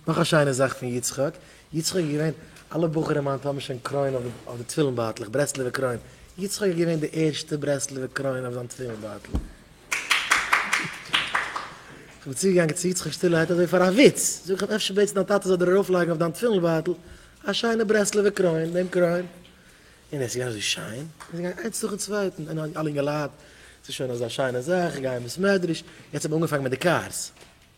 נאך א שיינע זאך פון יצחק, יצחק איז געווען, אלע בחורים היינט האבן שוין קרוין אויף די תפילין בייטלעך, ברסלב'ע קרוין, יצחק איז געווען די ערשטע ברסלב'ע קרוין אויף זיין תפילין בייטל. איך בין צוגעגאנגען צו יצחק שטילערהייט אזוי פאר א וויץ, זאג איך אים אפשר בעטסט דיין טאטע זאל דיר ארויפלייגן אויף דיין תפילין בייטל א שיינע ברסלב'ע קרוין, דעם קרוין, און עס איז געווען אזוי שיין, און עס איז געגאנגען איינס נאכן צווייטן, און אלע אינגעלייט, ס'איז שוין אזא שיינע זאך, גייען בית מדרש, יעצט האט מען אנגעפאנגען מיט די קארס.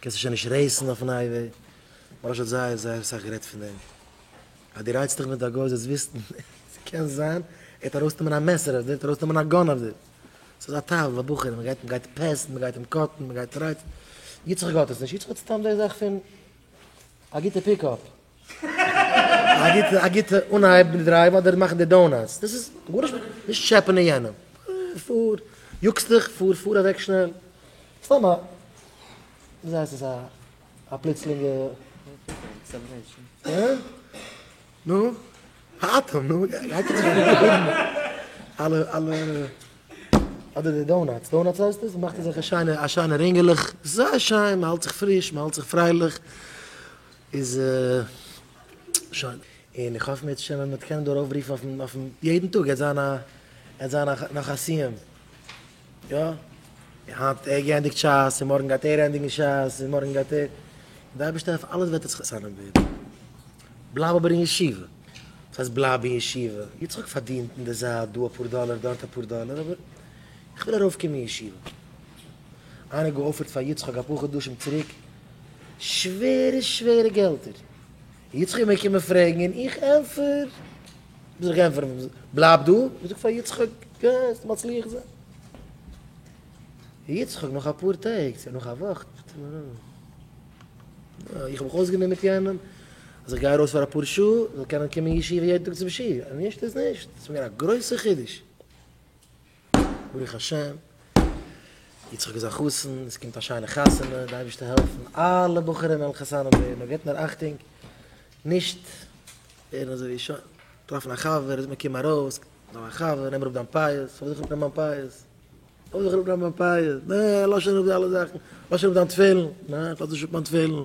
קענסט עס שוין נישט רעיסן אויפן הייוועי, מוהראש האט זייער זייער סאך גערעדט פון דעם, אז דו רייצט דיך מיט א גוי זאלסט וויסן עס קען זיין ער וועט ארויסנעמען א מעסער אויף דיר, ער וועט ארויסנעמען א גאן אויף דיר, סאיז א טבע ביי בחורים, מען גייט מען גייט פעסן, מען גייט אים קאטן, מען גייט רייצן, יצחק האט עס נישט, יצחק האט סתם די זאך פון א גוטע פיקאפ. א גוטע אנהייב די דרייוו אדער מאכן די דאונאטס דאס איז גארנישט מיט נישט טשעפענען יענעם פאר יאגסט דיך פאר פאר אוועק שנעל סתם א ווי זאגט עס א א פלוצלינגע נו האטעם נו אלע אלע אדער די דאונאטס דאונאטס הייסט עס מאכט אזעלכע שיינע א שיינע רינגעלעך זייער שיין מ'האלט זיך פריש מ'האלט זיך פרייליך. איז שוין. און איך האף מערצעשעם ווען מ'וועט קענען דא ארויפרופן אויפן אויפן יעדן טאג עט זיין א עט זיין א נאך א סיום. יא. היינט ער געענדיגט שס און מארגן גייט ער ענדיגן שס און מארגן גייט ער. די אייבערשטער אויף אלעס וועט עס חתמם ווערן. בלייב אבער אין ישיבה. וואס הייסט בלייב אין ישיבה? יצחק פארדינט אין די זייט דא אפאר דאלער דארט אפאר דאלער אבער איך וויל ארויפקומען אין ישיבה. איינער געאפערט פאר יצחק אפאר חדשים צוריק. שווערע שווערע געלטער. יצחק איז מיר געקומען פרעגן און איך ענטפער וואס איך ענטפער אים, בלייב דא, איך זאג פאר יצחק גייסט מצליח זיין. יצחק נאך אפאר טעג צו נאך א וואך רופט ער מיר אן, איך האב מיך אויסגענומען מיט יענעם אז איך גיי ארויס פאר אפאר שעה איך זאל קענען קומען אין ישיבה יעדן טאג צום שיעור, נישט איז נישט, ס'איז מיר געווען א גרויסע חידוש. ברוך השם, יצחק איז א חתן, עס קומט א שיינע חתונה, די אייבערשטער העלפן אלע בחורים זאלן חתנים ווערן, נאר געבט נאר אכטונג נישט ווערן אזוי ווי שוין, טרעפן א חבר, איז מיר קום ארויס, נעם א חבר, נעם אראפ דיין פאות, פארוואס זאל איך אראפנעמען מיין פאות? פארוואס זאל איך אראפנעמען מיין פאות? נעע, לאזט שוין אראפ די אלע זאכן, לאזט שוין אראפ דיין תפילין, נעע, איך לאזט נישט אראפ מיין תפילין,